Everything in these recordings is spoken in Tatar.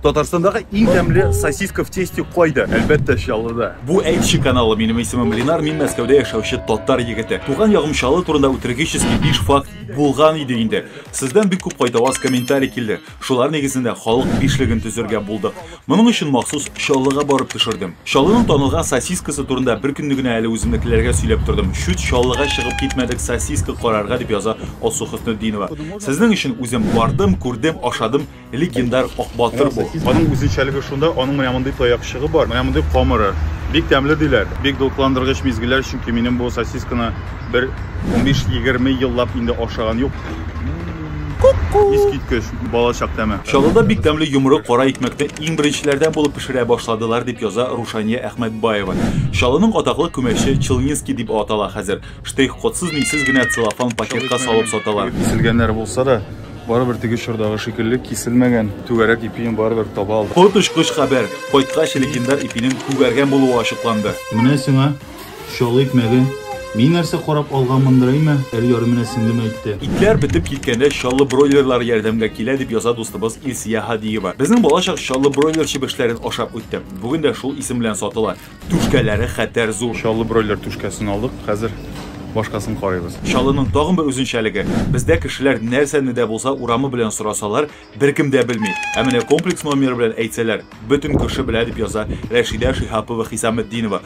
Татарстандағы иң тәмле сосиска в тесте кайда? Әлбәттә, Чаллыда. Бу әйтче каналы. Минем исемем Ленар, мин Мәскәүдә яшәүче татар егете. Туган ягым Чаллы турында үтергеческий биш факт булган иде инде. Сездән бик күп кайтаваз комментарий килде. Шулар нигезендә халык бишлеген төзергә булдык. Моның өчен махсус Чаллыга барып төшердем. Чаллының танылган сосискасы турында бер көнне генә әле үземнекеләргә сөйләп тордым. Чүт Чаллыга чыгып китмәдек сосиска карарга, дип яза Алсу Хөснетдинова. Сезнең өчен үзем бардым, күрдем, ашадым. Легендар Ак батыр бу. Аның үзенчәлеге шунда, аның менә мондый таякчыгы бар, менә мондый камыры. Бик тәмле диләр. Бик дулкындыргыч мизгелләр, чөнки минем бу сосисканы бер 15-20 еллап инде ашаган юк. Искиткеч бала чак тәме. Чаллыда бик тәмле йомры кара икмәкне иң беренчеләрдән булып пешерә башладылар, дип яза Рушания Әхмәтбаева. Чаллының атаклы күмәче Челнинский дип атала хәзер. Штрих-кодсыз, милсез генә целлофан пакетка салып саталар. Киселгәннәр булса да, Барыбер теге чордагы шикелле киселмәгән түгәрәк ипине барыбер таба алдык. Коточкыч хәбәр! Кайткач легендар ипинең күгәргән булуы ачыкланды. Менә сиңа чаллы икмәге. Мин нәрсә карап алганмындыр әйме, әле ярый менә сеңлем әйтте. Итләр бетеп киткәндә чаллы бройлерлары ярдәмгә килә, дип яза дустыбыз Илсия Һадиева. Безнең балачак чаллы бройлер чебешләрен ашап үтте. Бүген дә шул исем белән сатыла. Түшкәләре хәтәр зур. Чаллы бройлер түшкәсен алдык, хәзер башкасын карыйбыз. Чаллының тагын бер үзенчәлеге, бездә кешеләр нәрсәне дә булса урамы белән сорасалар, беркем дә белми. Ә менә комплекс номеры белән әйтсәләр, бөтен күрше белә, дип яза Рәшидә Шиһапова-Хисаметдинова.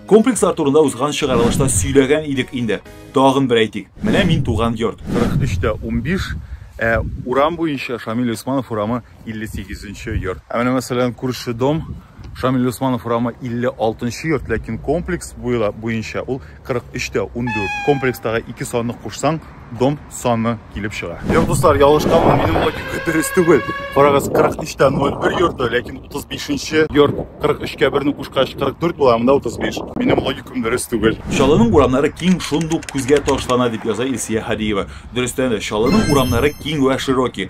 Комплекслар турында узган чыгарылышта сөйләгән идек инде. Тагын бер әйтик, менә мин туган йорт. 43 тә унбиш, ә урам буенча Шамил Гыйсманов урамы 58 нче йорт. Ә менә мәсәлән күрше дом Шамил Усманов урамы 56 нчы йорт, ләкин комплекс буйлап буенча ул 43 тә 14. Комплекстагы ике санны кушсаң, дом саны килеп чыга. Йорт дуслар, ялгышканмын, минем логика дөрес түгел. Карагыз, 43 тә 01 йорты, ләкин 35 нче йорт 43 кә 1 кушкач 44 була, монда 35. Минем логикам дөрес түгел. Чаллының урамнары киң, шундук күзгә ташлана, дип яза Илсия Һадиева. Дөрестән дә, Чаллының урамнары киң вә широкий.